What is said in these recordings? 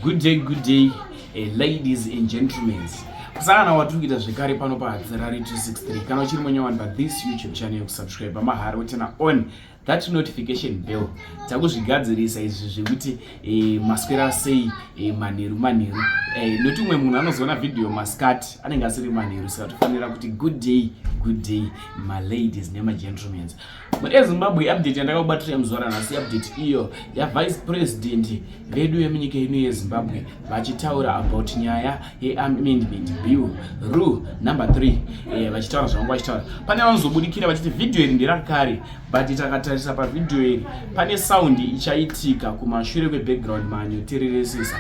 good day good day eh, ladies and gentlemen kusangana watiri kuita zvekare pano pahadzirari 263 kana uchiri munyowani pathis youtube channel yekusubscribe mahari wotena on that notification bell takuzvigadzirisa izvi zvekuti eh, maswera sei eh, manheru manheru eh, noti umwe munhu anozoona vhidhiyo masikati anenge asiri manheru saka tofanira kuti good day good day maladies nemagentlemans ezimbabwe update yandakakubatirira muzuva ranhasi update iyo yavice president vedu vemunyika ino yezimbabwe vachitaura about nyaya yeamendment bill rule number 3 eh, vachitaura zvavanga vachitaura pane vanozobudikira vachiti vhidhiyo iri nderakare but takatarisa pavhidhiyo iri pane saundi ichaitika kumashure kwebackground manyotereresesa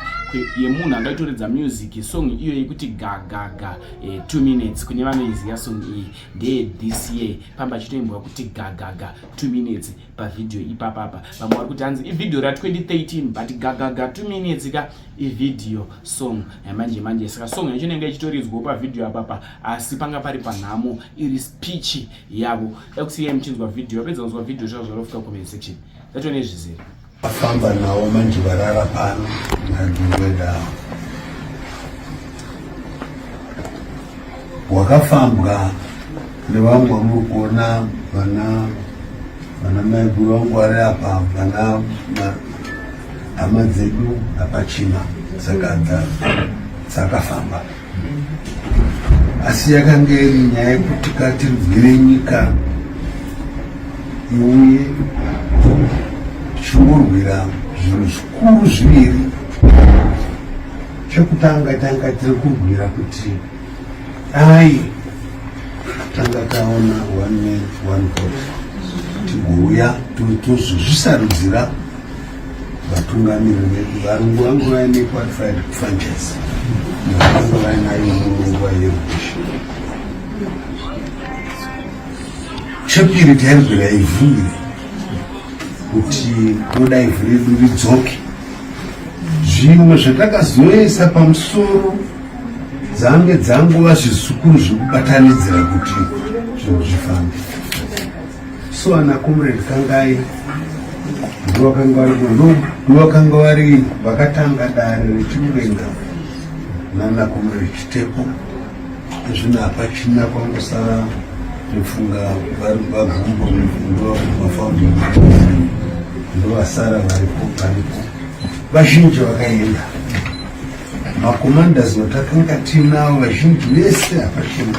yemunhu angaitoridza music song iyo yekuti gagaga 2 eh, minutes kune vanoiziva song iyi ndeye this year pamba achitoimbwa kuti gagaga two minutes pavhidhiyo ipapapa vamwe vari kuti hanzi ivhidhiyo ra 2013 but gagaga two minutes ka ivhidhiyo song yamanje manje saka song yacho inenge ichitoridzwawo pavhidhiyo apapa asi panga pari panhamo iri speech yavo dakusiyai muchinzwa vhidhiyo vapedza kunzwa vhidhiyo zvazvarofika comment section zvatone zvizere Afamba nawo manje varara pano naDuwedawo. Wakafambwa nevangu vamuri kuona vana vana maiguru vangu vari apa vana hama dzedu hapachina dzakafamba. asi yakanga iri nyaya yekuti katirwire nyika iuye tichingorwira zvinhu zvikuru zviviri chekutanga tanga tiri kurwira kuti dai tanga taona one man one vote tigouya tozozvisarudzira vatungamiri vedu varungu vangu vaine qualified franchise navanga vainayo munguva yerubisho chepiri tairwira ivhu iri kuti kunoda ivhu redu ridzoke zvimwe zvatakazoisa pamusoro dzange dzangova zvizukuru zvekubatanidzira kuti zvinhu zvifambe so ana comrade kangai ndovakanga vari munhu ndovakanga vari vakatanga dare rechimudenga nana comrade chitepo zvino hapachina kwangosara ndifunga vari vagumbo ndovafounding ndovasara varipo varipo vazhinji vakaenda macommanders vatakanga tinawo vazhinji vese hapachina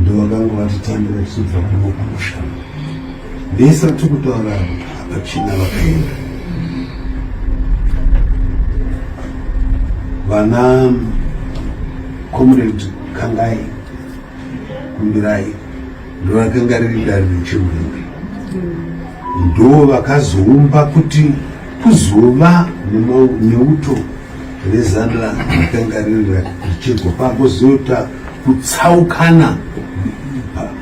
ndovakanga vatitambira tichibva kuno kumusha vese vatiri kutaura hapachina vakaenda vana comrade kangai kumbirai ndovakanga riri dare rechimhembe ndo vakazoumba kuti kuzova neuto rezanla makangarira zvichirwa pakuzoita kutsaukana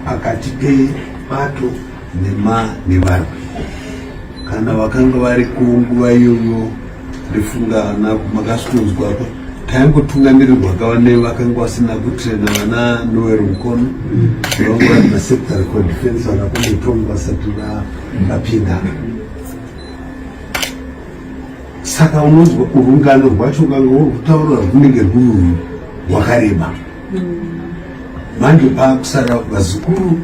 pakati pebato nevarwi kana vakanga vari kunguva iyoyo ndofunga vana makasitonzwa apa taingotungamirirwa kava nevakanga vasina kutrena vana noel mukono vanga vari masecretary for defense vakakombotonga vasati vapinda saka unonzwa urungano rwacho ungange uri kutaura rwunenge rwuyu rwakareba manje paakusara vazukuru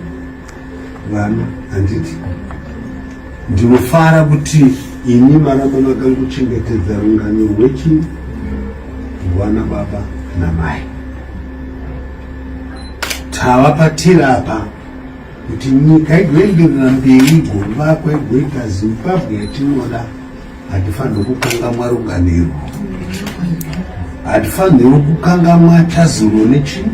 vana handiti ndinofara kuti ini maramba makanguchengetedza rungano rwechi rwana baba namai tava patiri apa kuti nyika igoenderera mberi igomba kwegoita zimbabwe yatinoda hatifanirwi kukangamwa runganiro hatifanirwi kukangamwa tazuro nechi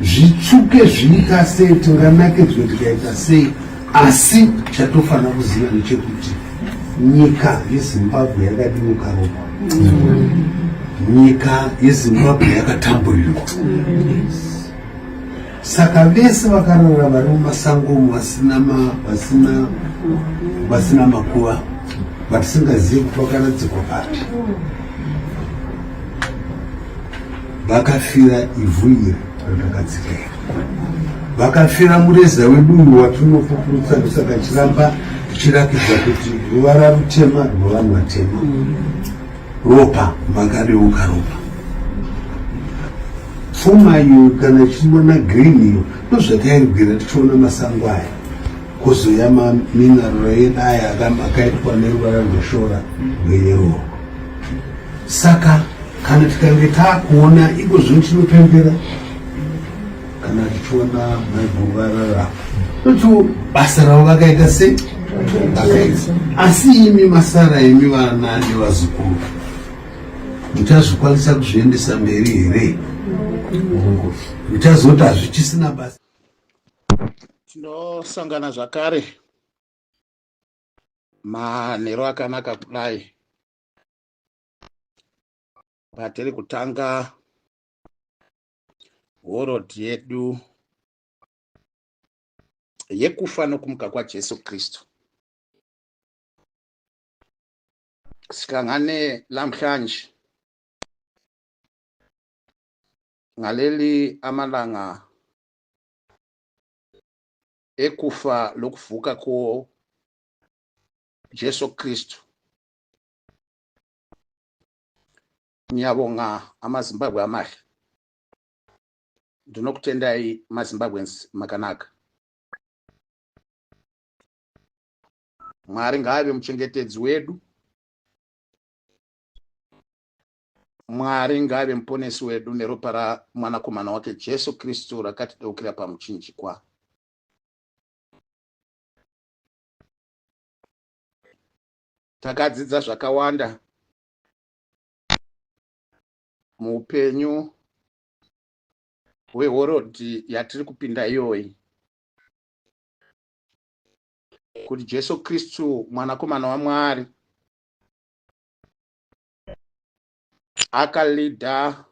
zvitsvuke zviita sei tinganakidzwe tikaita sei asi chatofanira kuziva nechekuti nyika yezimbabwe yakadimuka ropa nyika yezimbabwe yakatamburirwa Saka vese vakarara vari mumasango umu vasina vasina vasina makuva vatisingazivi kuti vakaradzikwa papi vakafira ivhu iri randakatsika iri vakafira mureza wedu uyu watinofukurutsa ndosaka chiramba tichirakidza kuti ruvara rutema rwevanhu vatema ropa makadeuka ropa pfuma iyo kana ichiona green iyo ndozvatairwira tichiona masango aya kozoya maminarora edu aya akaitwa neruvara rweshora rweyeroo saka kana tikange takuona iko zvino tinopembera kana tichiona maiguru varara totiwo basa ravo vakaita se vakaita asi imi masara imi vana nevazukuru muchazvikwanisa kuzviendesa mberi here muchazoti hazvichisina basa tinosangana zvakare manhero akanaka kudai patiri kutanga world yedu yekufa nokumuka kwajesu kristu sihlangane lamhlanje ngaleli amalanga ekufa lokuvuka ko Jesu Kristu Nyabonga ama Zimbabwe amahla ndinokutendai ma Zimbabweans makanaka Mwari ngaave muchengetedzi wedu Mwari ngaave muponesi wedu neropa ramwanakomana wake Jesu Kristu rakatideukira pamuchinjikwa takadzidza zvakawanda muupenyu hwehorodhi yatiri kupinda iyoyi kuti jesu kristu mwanakomana wamwari akalida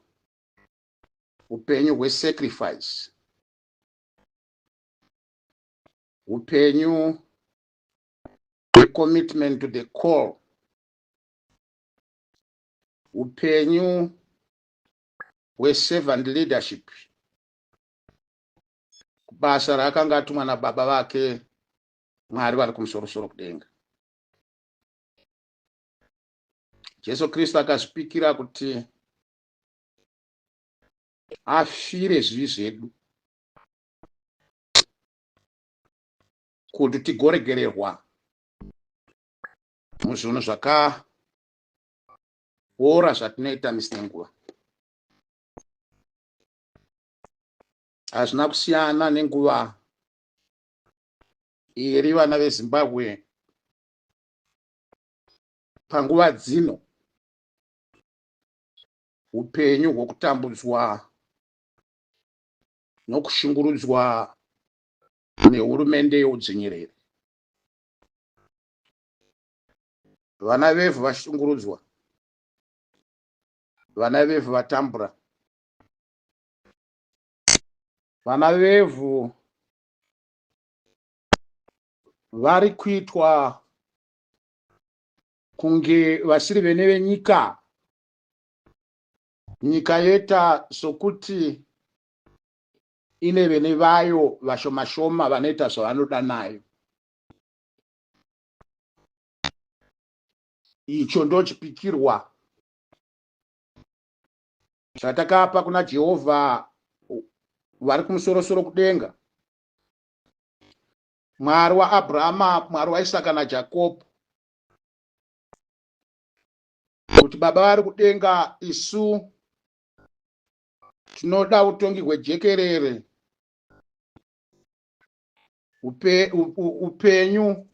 upenyu hwesacrifice upenyu hwecommitment to the call upenyu hweservant leadership kubasa raakanga atumwa nababa vake mwari vari kumusorosoro kudenga jesu kristu akazvipikira kuti afire zvivi zvedu kuti tigoregererwa muzvinhu zvakaora zvatinoita misi nenguva hazvina kusiyana nenguva iri vana vezimbabwe panguva dzino upenyu hwokutambudzwa nokushungurudzwa nehurumende youdzvinyiriri vana vevhu vashungurudzwa vana vevhu vatambura vana vevhu vari kuitwa kunge vasiri vene venyika nyika yoita sokuti ine vene vayo vashomashoma vanoita zvavanoda nayo icho ndochipikirwa zvatakapa kuna jehovha vari kumusorosoro kudenga mwari waabrahama mwari waisaka najakobho kuti baba vari kudenga isu tinoda utongi hwejekerere Upe, u, u, upenyu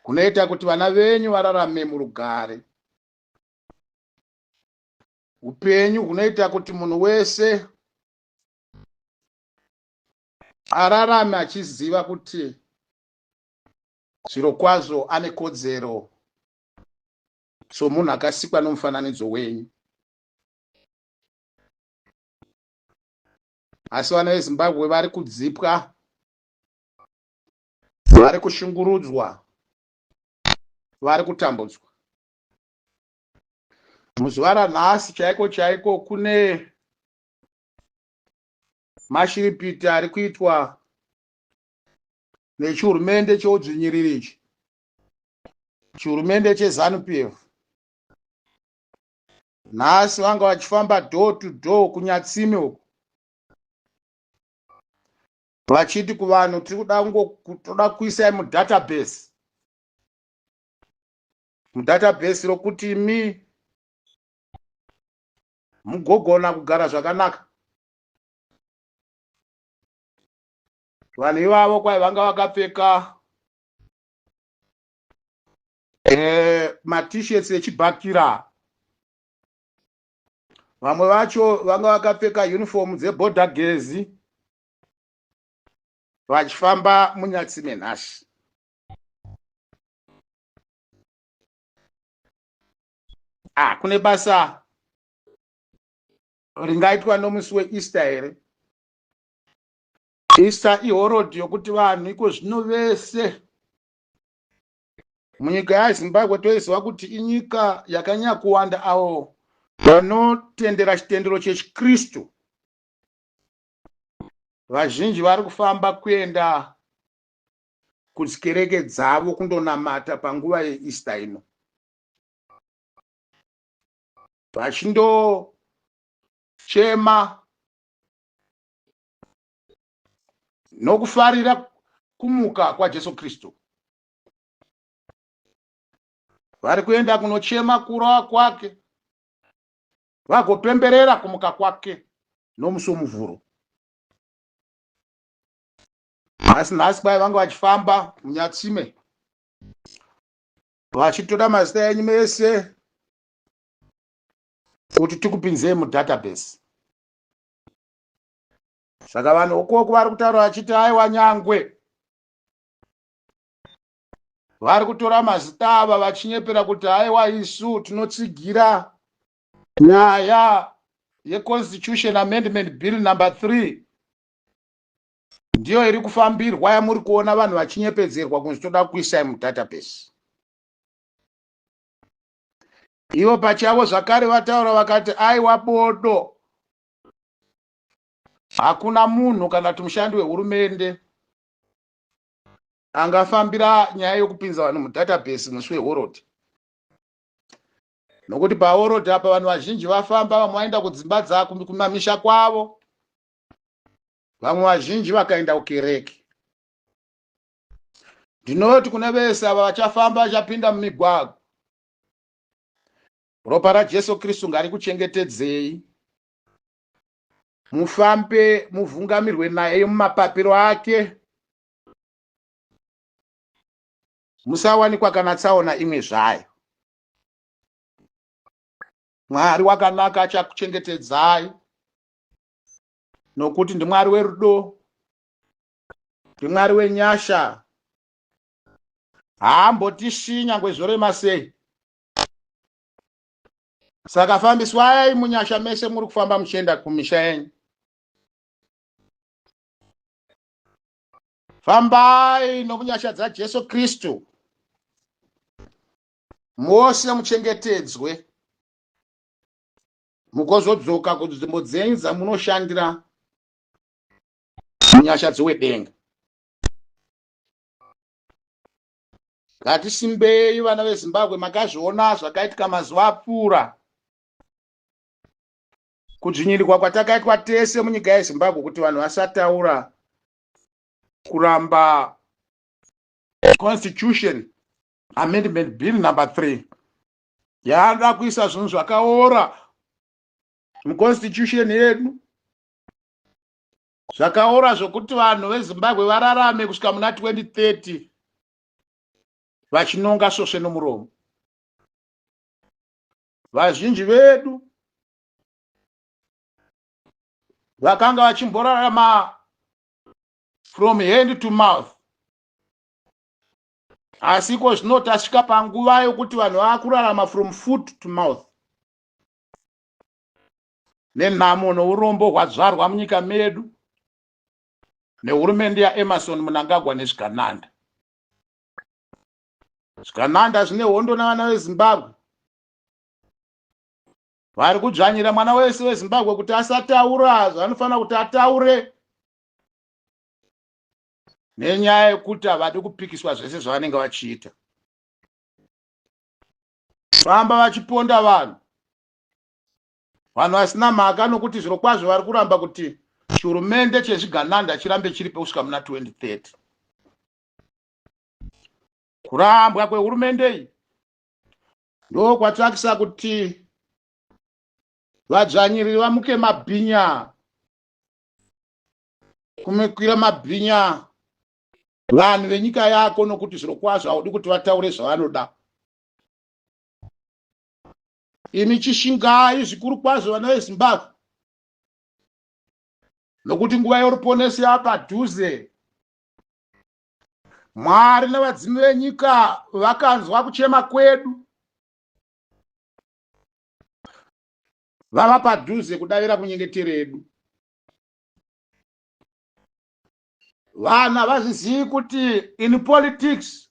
hunoita kuti vana venyu vararame murugare upenyu hunoita kuti munhu wese ararame achiziva kuti zviro kwazvo ane kodzero somunhu akasikwa nomufananidzo wenyu asi vana vezimbabwe vari kudzipwa vari kushungurudzwa vari kutambudzwa muzuva ranhasi chaiko chaiko kune mashiripiti ari kuitwa nechihurumende cheudzvinyiriri ichi chihurumende chezanupf nhasi vanga vachifamba door to door kunyatsime uku vachiti kuvanhu tiri kuda kungotoda kuisai mudatabase mudatabase rokuti imi mugogona kugara zvakanaka vanhu ivavo kwai vanga vakapfeka eh, matishirts echibhakira vamwe vacho vanga vakapfeka uniform dzeboda gezi vachifamba munyatsi menhasi ah, kune basa ringaitwa nomusi weeaster here easter ihorodhi yokuti vanhu iko zvino vese Munyika yaZimbabwe toiziva kuti inyika yakanyanya kuwanda avo vanotendera chitendero chechiKristu. Vazhinji vari kufamba kuenda kudzikereke dzavo kundonamata panguva yeEaster ino vachindochema nokufarira kumuka kwaJesu Kristu. Vari kuenda kunochema kurowa kwake vagopemberera kumuka kwake nomusi womuvhuro. Nhasi nhasi kwai vanga vachifamba munyatsime vachitora mazita enyu mese kuti tikupinzei mudatabase saka vanhu vokoko vari kutaura vachiti aiwa nyangwe vari kutora mazita ava vachinyepera kuti aiwa isu tinotsigira nyaya yeconstitution amendment bill number three ndiyo iri kufambirwa yamuri kuona vanhu vachinyepedzerwa kunzi toda kuisai mudatabase ivo pachavo zvakare vataura vakati aiwa bodo Hakuna munhu kana kuti mushandi wehurumende angafambira nyaya yokupinza vanhu mudatabase musi wehorodhi nokuti pahorodhi apa vanhu vazhinji vafamba vamwe vaenda kudzimba dzako kumamisha kwavo vamwe vazhinji vakaenda kukereke ndinoti kune vese ava vachafamba vachapinda mumigwagwa ropa rajesu kristu ngarikuchengetedzei mufambe muvhungamirwe naye mumapapiro ake musawanikwa kana tsaona imwe zvayo mwari wakanaka achakuchengetedzai nokuti ndimwari werudo ndimwari wenyasha haambotishinya ngwezvorema sei saka fambiswai munyasha mese muri kufamba muchienda kumisha yenyu fambai nomunyasha dzajesu kristu mose muchengetedzwe mukozodzoka kunzvimbo dzenyu dzamunoshandira munyasha dzowedenga Ngatisimbei vana veZimbabwe makazviona zvakaitika mazuva apfuura. Kudzvinyirirwa kwatakaitwa tese munyika yeZimbabwe kuti vanhu vasataura kuramba constitution amendment bill number 3 yaada kuisa zvinhu zvakaora muconstitution yedu Zvakaora zvokuti vanhu veZimbabwe vararame kusvika muna 2030 vachinonga svosve nomuromo. Vazhinji vedu vakanga vachimborarama from hand to mouth asi iko zvino tasvika panguva yokuti vanhu vava kurarama from foot to mouth nenhamo nourombo hwazvarwa munyika medu nehurumende yaemerson munangagwa nezvikananda zvikananda zvine hondo navana vezimbabwe vari kudzvanyira mwana wese wezimbabwe kuti asataura zvanofanira kuti ataure nenyaya yekuti havadi kupikiswa zvese zvavanenge vachiita famba vachiponda vanhu vanhu vasina mhaka nokuti zviro kwazvo vari kuramba kuti chihurumende chezvigananda chirambe chiripo kusvika muna 2030 kurambwa kwehurumende iyi ndokwatsvakisa kuti vadzvanyiriri vamuke mabhinya kumikwira mabhinya vanhu venyika yako nokuti zviro kwazvo haudi kuti vataure zvavanoda imi chishingai zvikuru kwazvo vana vezimbabwe nokuti nguva yoruponesi yapadhuze mwari nevadzimu venyika vakanzwa kuchema kwedu vava padhuze kudavira kunyengetero yedu vanhu havazvizivi kuti in politics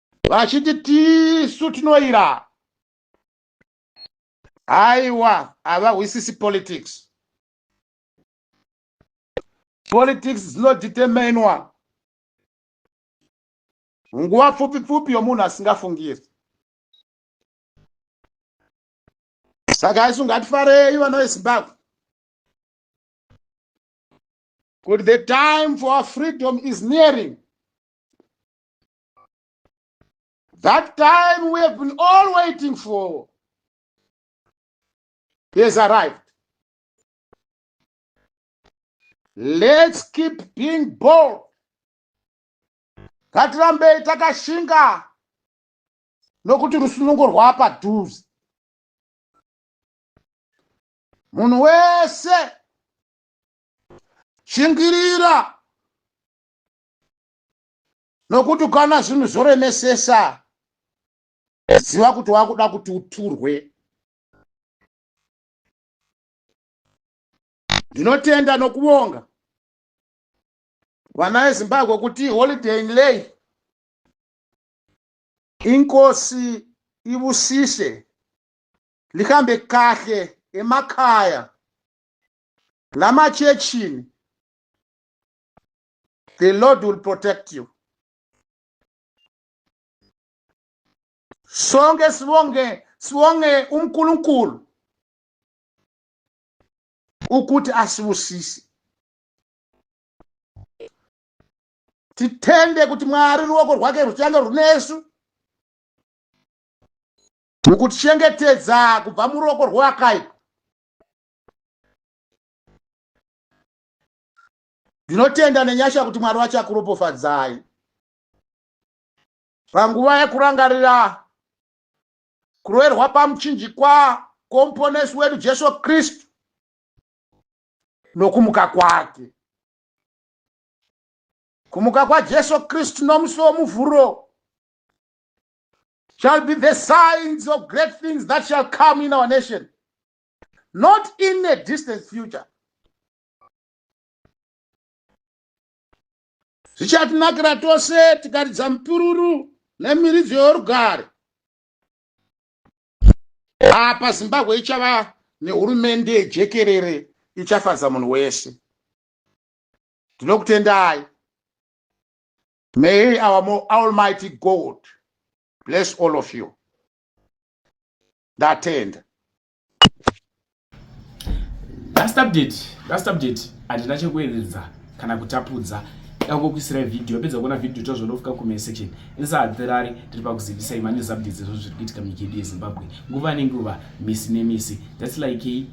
vachiti tisu tinoira haiwa havahwisisi politics politics dzinoditemenwa nguva pfupi pfupi yomunhu asingafungiri saka isu ngatifarei vana vezimbabwe kuti the time for our freedom is nearing That time we have been all waiting for has arrived. Let's keep being bold. Ngatirambei takashinga nokuti rusunungo rwapadhuze. Munhu wese shingirira Nokuti kana zvinhu zvoremesesa, ziva kuti wakuda kuti uturwe. Ndinotenda nokuvonga vana veZimbabwe kuti holiday in lay inkosi ibusise lihambe kahle emakhaya lamachechini the lord will protect you sonke sibonge sibonge unkulunkulu ukuthi asibusise tithende kuti mwari ruoko rwake ruchange runesu mukutichengetedza kubva muruoko rwewakaipa ndinotenda nenyasha kuti mwari vachakuropofadzai panguva yekurangarira kuroverwa pamuchinjikwa kwomuponesi wedu jesu kristu nokumuka kwake kumuka kwajesu kristu nomusi womuvhuro shall be the signs of great things that shall come in our nation not in a distant future zvichatinakira tose tikaridza mupururu nemiridzo yorugare apa zimbabwe ichava nehurumende yejekerere ichafadza munhu wese ndinokutendai may our almighty god bless all of you ndatenda last update last update handina chekuedza kana kutapudza dangokuisirai video yapedza kuona video tozvonofika comment section insahatirari tiri pakuzivisai manews updates ezvo zviri kuitika munyika yedu yezimbabwe nguva nenguva misi nemisi thats like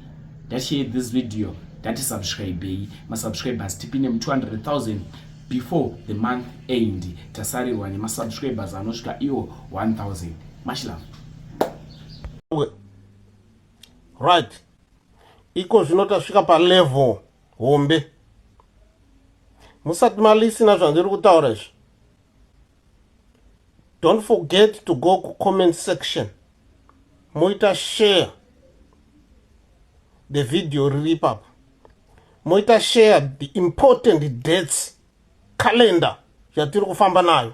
that share this video that is subscribei masubscribers tipi nemu 200000 before the month end tasarirwa nemasubscribers anosvika iwo 1000 much love right iko zvino tasvika palevel hombe musati malisina zvandiri kutaura izvi don't forget to go kucomment section moita share the video riri ipapo moita share the important dates calendar yatiri kufamba nayo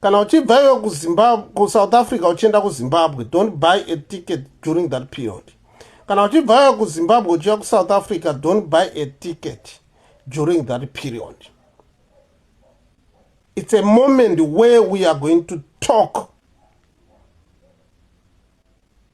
kana uchibva iwe kuzimbabwe kusouth africa uchienda kuzimbabwe don't buy a ticket during that period kana uchibva iwe kuzimbabwe uchiya kusouth africa don't buy a ticket during that period it's a moment where we are going to talk